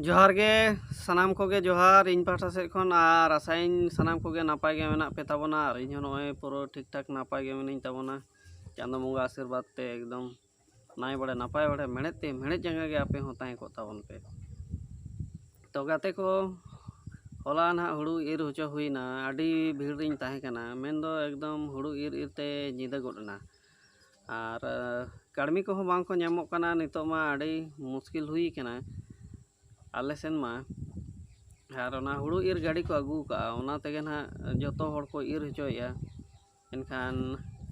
ᱡᱚᱦᱟᱨ ᱜᱮ ᱥᱟᱱᱟᱢ ᱠᱚᱜᱮ ᱡᱚᱦᱟᱨ ᱤᱧ ᱯᱟᱦᱴᱟ ᱥᱮᱫ ᱠᱷᱚᱱ ᱟᱨ ᱟᱥᱟᱭᱟᱹᱧ ᱥᱟᱱᱟᱢ ᱠᱚᱜᱮ ᱱᱟᱯᱟᱭ ᱜᱮ ᱢᱮᱱᱟᱜ ᱯᱮ ᱛᱟᱵᱚᱱᱟ ᱟᱨ ᱤᱧ ᱦᱚᱸ ᱱᱚᱜᱼᱚᱭ ᱯᱩᱨᱟᱹ ᱴᱷᱤᱠ ᱴᱷᱟᱠ ᱱᱟᱯᱟᱭ ᱜᱮ ᱢᱤᱱᱟᱹᱧ ᱛᱟᱵᱚᱱᱟ ᱪᱟᱸᱫᱚ ᱵᱚᱸᱜᱟ ᱟᱥᱤᱨᱵᱟᱫᱽ ᱛᱮ ᱮᱠᱫᱚᱢ ᱱᱟᱭ ᱵᱟᱲᱮ ᱱᱟᱯᱟᱭ ᱵᱟᱲᱮ ᱢᱮᱬᱦᱮᱫ ᱛᱮ ᱢᱮᱬᱦᱮᱫ ᱡᱟᱸᱜᱟ ᱜᱮ ᱟᱯᱮ ᱦᱚᱸ ᱛᱟᱦᱮᱸ ᱠᱚᱜ ᱛᱟᱵᱚᱱ ᱯᱮ ᱛᱚ ᱜᱟᱛᱮ ᱠᱚ ᱦᱚᱞᱟ ᱱᱟᱦᱟᱜ ᱦᱩᱲᱩ ᱤᱨ ᱦᱚᱪᱚ ᱦᱩᱭᱱᱟ ᱟᱹᱰᱤ ᱵᱷᱤᱲ ᱨᱤᱧ ᱛᱟᱦᱮᱸ ᱠᱟᱱᱟ ᱢᱮᱱᱫᱚ ᱮᱠᱫᱚᱢ ᱦᱩᱲᱩ ᱤᱨ ᱤᱨ ᱛᱮ ᱧᱤᱫᱟᱹ ᱜᱚᱫ ᱮᱱᱟ ᱟᱨ ᱠᱟᱹᱲᱢᱤ ᱠᱚᱦᱚᱸ ᱵᱟᱝ ᱠᱚ ᱧᱟᱢᱚᱜ ᱠᱟᱱᱟ ᱱᱤᱛᱚᱜ ᱢᱟ ᱟᱹᱰᱤ ᱢᱩᱥᱠᱤᱞ ᱦᱩᱭ ᱠᱟᱱᱟ ᱟᱞᱮ ᱥᱮᱱ ᱢᱟ ᱟᱨ ᱚᱱᱟ ᱦᱳᱲᱳ ᱤᱨ ᱜᱟᱹᱰᱤ ᱠᱚ ᱟᱹᱜᱩ ᱠᱟᱜᱼᱟ ᱚᱱᱟ ᱛᱮᱜᱮ ᱦᱟᱸᱜ ᱡᱚᱛᱚ ᱦᱚᱲ ᱠᱚ ᱤᱨ ᱦᱚᱪᱚᱭᱮᱜᱼᱟ ᱮᱱᱠᱷᱟᱱ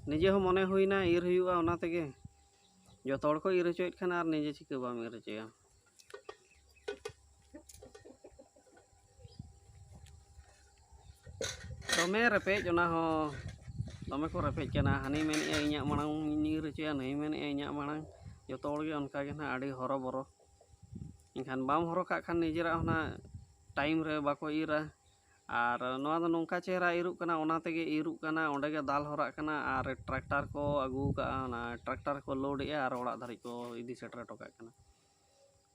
ᱱᱤᱡᱮ ᱦᱚᱸ ᱢᱚᱱᱮ ᱦᱩᱭᱱᱟ ᱤᱨ ᱦᱩᱭᱩᱜᱼᱟ ᱚᱱᱟ ᱛᱮᱜᱮ ᱡᱚᱛᱚ ᱦᱚᱲ ᱠᱚ ᱤᱨ ᱦᱚᱪᱚᱭᱮᱜ ᱠᱷᱟᱱ ᱟᱨ ᱱᱤᱡᱮ ᱪᱤᱠᱟᱹ ᱵᱟᱢ ᱤᱨ ᱦᱚᱪᱚᱭᱟ ᱫᱚᱢᱮ ᱨᱮᱯᱮᱡ ᱚᱱᱟ ᱦᱚᱸ ᱫᱚᱢᱮ ᱠᱚ ᱨᱮᱯᱮᱡ ᱠᱟᱱᱟ ᱦᱟᱹᱱᱤ ᱢᱮᱱᱮᱫᱼᱟ ᱤᱧᱟᱹᱜ ᱢᱟᱲᱟᱝ ᱤᱧ ᱧᱤᱨ ᱦᱚᱪᱚᱭᱟ ᱱᱩᱭ ᱢᱮᱱᱮᱫᱼᱟ ᱤᱧᱟᱹᱜ ᱢᱟᱲᱟᱝ ᱡᱚᱛᱚ ᱦᱚᱲᱜᱮ ᱚᱱᱠᱟᱜᱮ ᱱᱟᱦᱟᱜ ᱟᱹᱰᱤ ᱦᱚᱨᱚᱵᱚᱨᱚ ᱮᱱᱠᱷᱟᱱ ᱵᱟᱢ ᱦᱚᱨᱦᱚ ᱠᱟᱜ ᱠᱷᱟᱱ ᱱᱤᱡᱮᱨᱟᱜ ᱦᱚᱸ ᱱᱟᱦᱟᱜ ᱴᱟᱭᱤᱢ ᱨᱮ ᱵᱟᱠᱚ ᱤᱨᱟ ᱟᱨ ᱱᱚᱣᱟ ᱫᱚ ᱱᱚᱝᱠᱟ ᱪᱮᱦᱨᱟ ᱤᱨᱚᱜ ᱠᱟᱱᱟ ᱚᱱᱟ ᱛᱮᱜᱮ ᱤᱨᱚᱜ ᱠᱟᱱᱟ ᱚᱸᱰᱮ ᱜᱮ ᱫᱟᱞ ᱦᱚᱨᱟᱜ ᱠᱟᱱᱟ ᱟᱨ ᱴᱨᱟᱠᱴᱟᱨ ᱠᱚ ᱟᱹᱜᱩ ᱠᱟᱜᱼᱟ ᱚᱱᱟ ᱴᱨᱟᱠᱴᱟᱨ ᱠᱚ ᱞᱳᱰ ᱮᱜᱼᱟ ᱟᱨ ᱚᱲᱟᱜ ᱫᱷᱟᱹᱨᱤᱡ ᱠᱚ ᱤᱫᱤ ᱥᱮᱴᱮᱨ ᱦᱚᱴᱚ ᱠᱟᱜ ᱠᱟᱱᱟ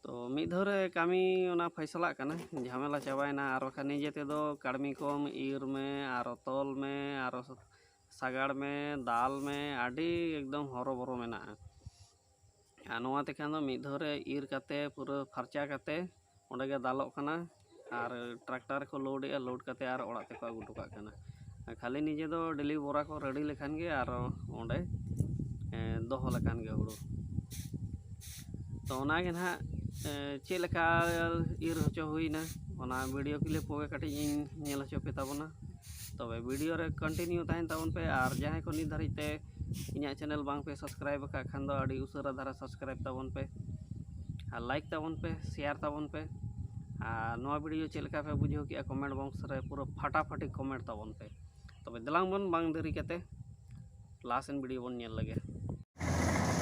ᱛᱚ ᱢᱤᱫ ᱫᱷᱟᱣ ᱨᱮ ᱠᱟᱹᱢᱤ ᱚᱱᱟ ᱯᱷᱚᱭᱥᱟᱞᱟᱜ ᱠᱟᱱᱟ ᱡᱷᱟᱢᱮᱞᱟ ᱪᱟᱵᱟᱭᱮᱱᱟ ᱟᱨ ᱵᱟᱠᱷᱟᱱ ᱱᱤᱡᱮ ᱛᱮᱫᱚ ᱠᱟᱹᱲᱢᱤ ᱠᱚᱢ ᱤᱨ ᱢᱮ ᱟᱨᱚ ᱛᱚᱞ ᱢᱮ ᱟᱨᱚ ᱥᱟᱜᱟᱲ ᱢᱮ ᱫᱟᱞ ᱢᱮ ᱟᱹᱰᱤ ᱮᱠᱫᱚᱢ ᱦᱚᱨᱚᱵᱚᱨᱚ ᱢᱮᱱᱟᱜᱼᱟ ᱟᱨ ᱱᱚᱣᱟ ᱛᱮᱠᱷᱟᱱ ᱫᱚ ᱢᱤᱫ ᱫᱷᱟᱣ ᱨᱮ ᱤᱨ ᱠᱟᱛᱮ ᱯᱩᱨᱟᱹ ᱯᱷᱟᱨᱪᱟ ᱠᱟᱛᱮ ᱚᱸᱰᱮ ᱜᱮ ᱫᱟᱞᱚᱜ ᱠᱟᱱᱟ ᱟᱨ ᱴᱨᱟᱠᱴᱟᱨ ᱨᱮᱠᱚ ᱞᱳᱰ ᱮᱜᱼᱟ ᱞᱳᱰ ᱠᱟᱛᱮ ᱟᱨ ᱚᱲᱟᱜ ᱛᱮᱠᱚ ᱟᱹᱜᱩ ᱦᱚᱴᱚ ᱠᱟᱜ ᱠᱟᱱᱟ ᱟᱨ ᱠᱷᱟᱹᱞᱤ ᱱᱤᱡᱮ ᱫᱚ ᱰᱮᱞᱤ ᱵᱚᱨᱟ ᱠᱚ ᱨᱮᱰᱤ ᱞᱮᱠᱷᱟᱱ ᱜᱮ ᱟᱨᱚ ᱚᱸᱰᱮ ᱫᱚᱦᱚ ᱞᱮᱠᱷᱟᱱ ᱜᱮ ᱦᱳᱲᱳ ᱛᱚ ᱚᱱᱟ ᱜᱮ ᱱᱟᱦᱟᱜ ᱪᱮᱫ ᱞᱮᱠᱟ ᱤᱨ ᱦᱚᱪᱚ ᱦᱩᱭᱱᱟ ᱚᱱᱟ ᱵᱷᱤᱰᱤᱭᱳ ᱠᱞᱤᱯ ᱠᱚᱜᱮ ᱠᱟᱹᱴᱤᱡ ᱤᱧ ᱧᱮᱞ ᱦᱚᱪᱚ ᱯᱮ ᱛᱟᱵᱚᱱᱟ ᱛᱚᱵᱮ ᱵᱷᱤᱰᱤᱭᱳ ᱨᱮ ᱠᱚᱱᱴᱤᱱᱤᱭᱩ ᱛᱟᱦᱮᱱ ᱛᱟᱵᱚᱱ ᱯᱮ ᱟᱨ ᱡᱟᱦᱟᱸᱭ ᱠᱚ ᱱᱤᱛ ᱫᱷᱟᱹᱨᱤᱡ ᱛᱮ ᱤᱧᱟᱹᱜ ᱪᱮᱱᱮᱞ ᱵᱟᱝ ᱯᱮ ᱥᱟᱵᱥᱠᱨᱟᱭᱤᱵᱽ ᱟᱠᱟᱫ ᱠᱷᱟᱱ ᱫᱚ ᱟᱹᱰᱤ ᱩᱥᱟᱹᱨᱟ ᱫᱷᱟᱨᱟ ᱥᱟᱵᱥᱠᱨᱟᱭᱤᱵᱽ ᱛᱟᱵᱚᱱ ᱯᱮ ᱟᱨ ᱞᱟᱭᱤᱠ ᱛᱟᱵᱚᱱ ᱯᱮ ᱥᱮᱭᱟᱨ ᱛᱟᱵᱚᱱ ᱯᱮ ᱟᱨ ᱱᱚᱣᱟ ᱵᱷᱤᱰᱭᱳ ᱪᱮᱫ ᱞᱮᱠᱟ ᱯᱮ ᱵᱩᱡᱷᱟᱹᱣ ᱠᱮᱜᱼᱟ ᱠᱚᱢᱮᱱᱴ ᱵᱚᱠᱥ ᱨᱮ ᱯᱩᱨᱟᱹ ᱯᱷᱟᱴᱟᱯᱷᱟᱴᱤ ᱠᱚᱢᱮᱱᱴ ᱛᱟᱵᱚᱱ ᱯᱮ ᱛᱚᱵᱮ ᱫᱮᱞᱟᱝ ᱵᱚᱱ ᱵᱟᱝ ᱫᱮᱨᱤ ᱠᱟᱛᱮ ᱞᱟᱦᱟ ᱥᱮᱱ ᱵᱷᱤᱰᱭᱳ ᱵᱚᱱ ᱧᱮᱞ ᱞᱮᱜᱮ